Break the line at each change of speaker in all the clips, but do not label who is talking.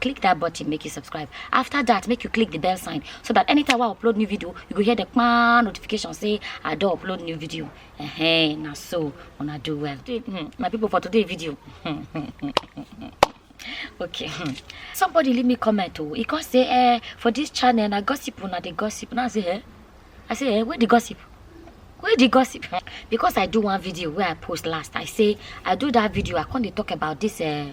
click that button make you subscribe after that make you click the bell sign so that anytime i upload new video you go hear the kpan notification say i do upload new video uh -huh, now so wanna do well hmm, my people for today video okay hmm. somebody leave me comment oh e come say eh for this channel na gossip una the gossip Now i say eh i say eh where the gossip where the gossip eh? because i do one video where i post last i say i do that video i can't talk about this eh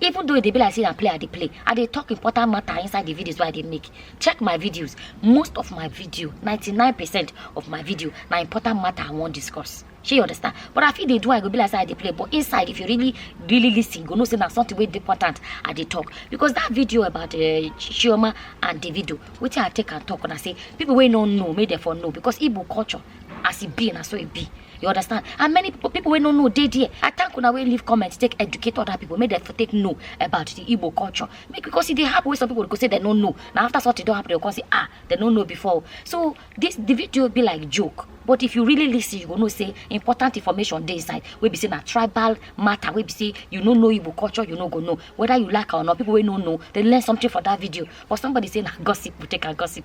even though it e be like say na play i dey play i dey talk important matter inside the videos wey i dey make check my videos most of my video 99 percent of my video na important matter i wan discuss shey you understand but i fit dey do i go be like say i dey play but inside if you really really listen you go know say na something wey dey important i dey talk because that video about uh, chioma and davido wetin i take am talk na say people wey no know make dem for know because igbo culture as e be na so e be you understand and many people people wey no know dey there i thank una wey leave comment take educate other people make dem for take know about the igbo culture make because e dey happen wey some people go say dem no know na after something don happen dem go come say ah dem no know before o. so this the video be like joke but if you really lis ten you go know say important information dey inside wey be say na tribal matter wey be say you no know igbo culture you no go know whether you like am or not people wey no know dey learn something for that video but somebody say na gossip we take am gossip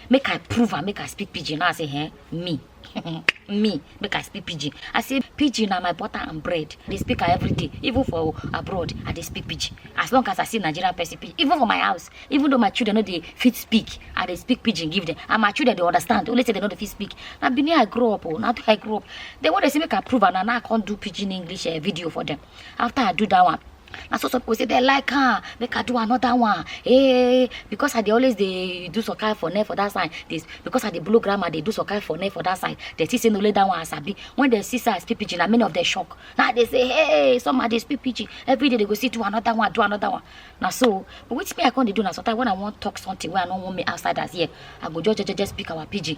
make i prove am make i speak pidgin now i say eh me me make i speak pidgin i say pidgin na my butter and bread i dey speak am every day even for abroad i dey speak pidgin as long as i see nigerian person pidgin even for my house even though my children no dey fit speak i dey speak pidgin give them and my children dey understand only say they no dey fit speak na benin i grow up o na there i grow up then when they say make i prove am na now i come do pidgin english uh, video for them after i do that one na so some people say they like am make i do another one hey eh, because i dey always dey do some kind for net for that side this because i dey blow grammar dey do some kind for net for that side they see say no let that one as i be when they see say i speak pidgin na many of them shock na they say hey some of dey speak pidgin every day they go see do another one do another one na so but wetin me i come dey do na sometimes when i wan talk something wey i no wan make outsiders hear i go just jejeje speak our pidgin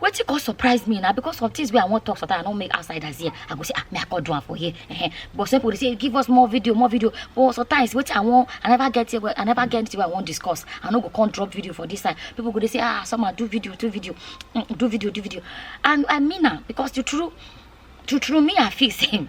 wetin come surprise me na because of things wey i wan talk sometimes i no make outsiders hear i go say ah me i come do am for here eh but some people dey say give us more video more video but sometimes wetin i wan i never get here i never get anything wey i wan discuss i no go come drop video for this side people go dey say ah someone do video do video mm, do video do video and i mean am because the true true true me i feel say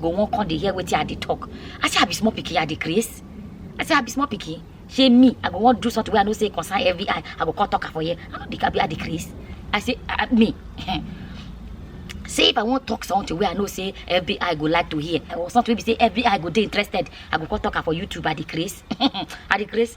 go wan come dey hear wetin i dey talk i say i be small pikin i dey craze i say i be small pikin shey me i go wan do something wey i know say concern every eye i go come talk am for here i no dey abi i dey craze i say uh, me say if i wan talk something wey i know say every eye go like to hear or something wey be say every eye go dey interested i go come talk am for youtube i dey craze i dey craze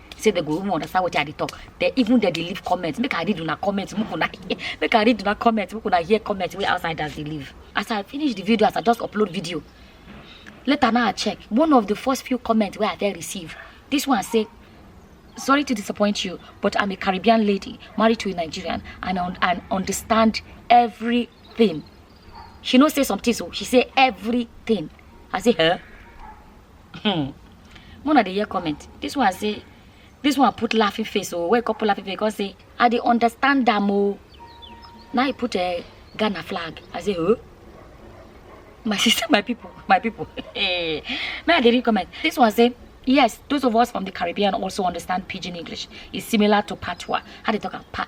say they go even understand what i dey talk they even they dey leave comment make i read una comment make una make i read una comment make una hear comment wey outsiders dey leave as i finish the video as i just upload video later now i check one of the first few comments wey i dey receive this one say sorry to disappoint you but i'm a caribbean lady married to a nigerian and un and understand everything she no say some things o she say everything i say huh Hmm. Mona dey hear comment. This one say, this one put laughing face. Oh, wake up laughing face. Because say, I dey understand them. Oh. Now he put a Ghana flag. I say, oh. My sister, my people, my people. May I dey read comment? This one say, yes, those of us from the Caribbean also understand Pidgin English. It's similar to Patois. How they talk about pa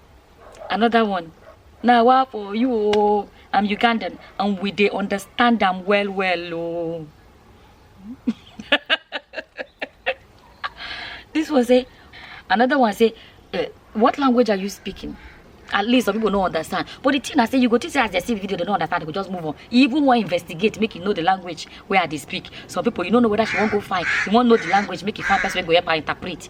another one na wa for you oo i'm ugandan and we dey understand am well well oo this one say another one say eh, what language are you speaking at least some people no understand but the thing i say you go think say as they see the video they no understand they go just move on you even wan investigate make you know the language wey i dey speak some people you no know whether she wan go find you wan know the language make you find person wey go help her interpret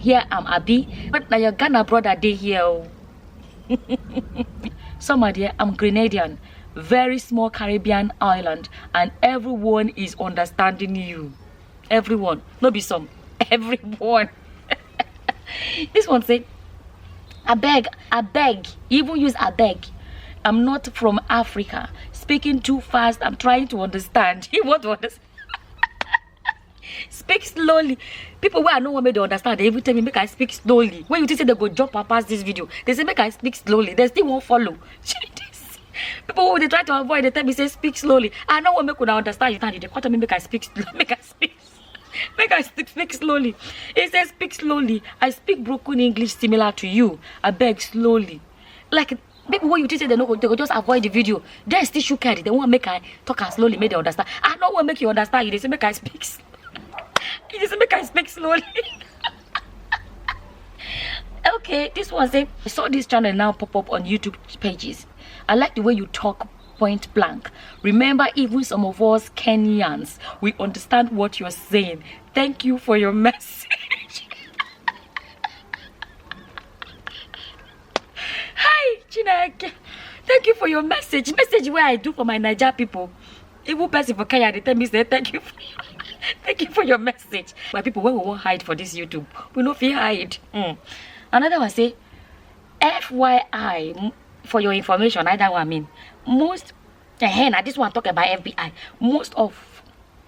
hear am abi but na your ghana brother dey here o some are there i'm grenadian very small caribbean island and everyone is understanding you everyone no be some everyone this one say I beg, I beg, even use I beg. I'm not from Africa. Speaking too fast, I'm trying to understand. You want to understand? speak slowly people wey i no wan make dem understand dey even tell me make i speak slowly when you think say dem go jump and pass this video they say make i speak slowly dem still wan follow shey this people wey dey try to avoid dey tell me say speak slowly i no wan make una understand you now you dey come tell me make i speak slowly make i speak make i speak speak slowly he say speak slowly i speak broken english similar to you abeg slowly like people wey you think say they no go they go just avoid the video dem still shook head they wan make i talk am slowly make they understand i no wan make you understand you dey say make i speak s- you dey say make i speak slowly okay this one say i saw this channel now pop up on youtube pages i like the way you talk point blank remember even some of us kenyans we understand what you're saying thank you for your message Hi, Chineke. Thank you for your message. Message where I do for my Niger people. Even person for Kenya, they tell me, say, thank you for your, thank you for your message. My people, when we won't hide for this YouTube, we no feel hide. Mm. Another one say, FYI, for your information, I that one I mean. Most, uh, eh, now this one talk about FBI. Most of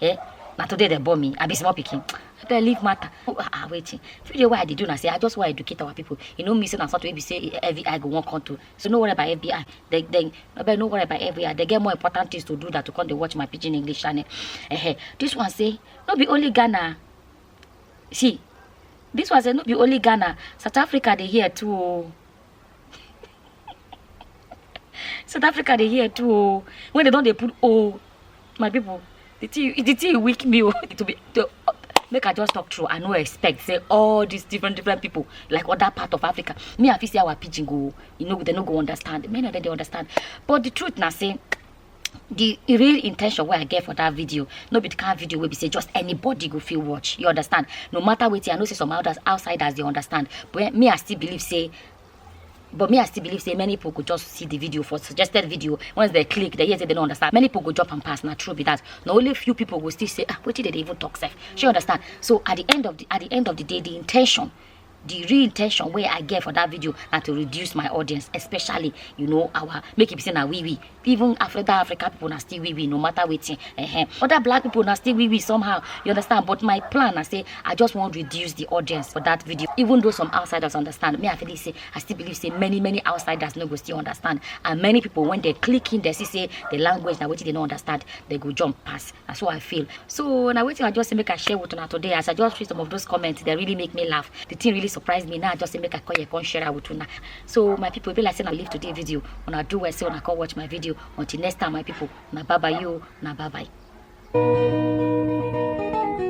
eh na today dem born me i be small pikin abeg leave matter oh, ah, ah wait you dey why i dey do na say i just wan educate our people you know me say na something wey be say every eye go wan come to so no worry about every eye they they abeg no worry about every eye they get more important things to do than to come dey watch my pidgin english channel eh this one say no be only ghana see this one say no be only ghana south africa dey hear too o. Oh. south africa dey hear too o when they don dey put o my people the thing the thing weak me o to be to make i just talk true i no expect say all these different different people like other part of africa me i fit say our pidgin go you know they no go understand many of them dey understand but the truth na say the real intention wey i get for that video no be the kind video wey be say just anybody go fit watch you understand no matter wetin i know say some others outsiders dey understand but me i still believe say but me i still believe say many people go just see the video for suggested video once they click they hear say they no understand many people go drop am pass na true be that na only few people go still say ah wetin dey dey even talk sef shey you understand so at the end of the at the end of the day the intention the real intention wey i get for that video na to reduce my audience especially you know our make e be say na we we even africa africa people na still we we no matter wetin uh -huh. other black people na still we we somehow you understand but my plan na say i just wan reduce the audience for that video even though some outsiders understand me i feel say i still believe say many many outsiders no go still understand and many people when they click in they see say the language na wetin they no understand they go jump pass na so i feel so na wetin i just say make i share with una today as i just read some of those comments they really make me laugh the thing really surprised me now i just say make i call you come share am with una so my people e be like say na leave today video una do well say una come watch my video until next time my people una bye bye you una bye bye.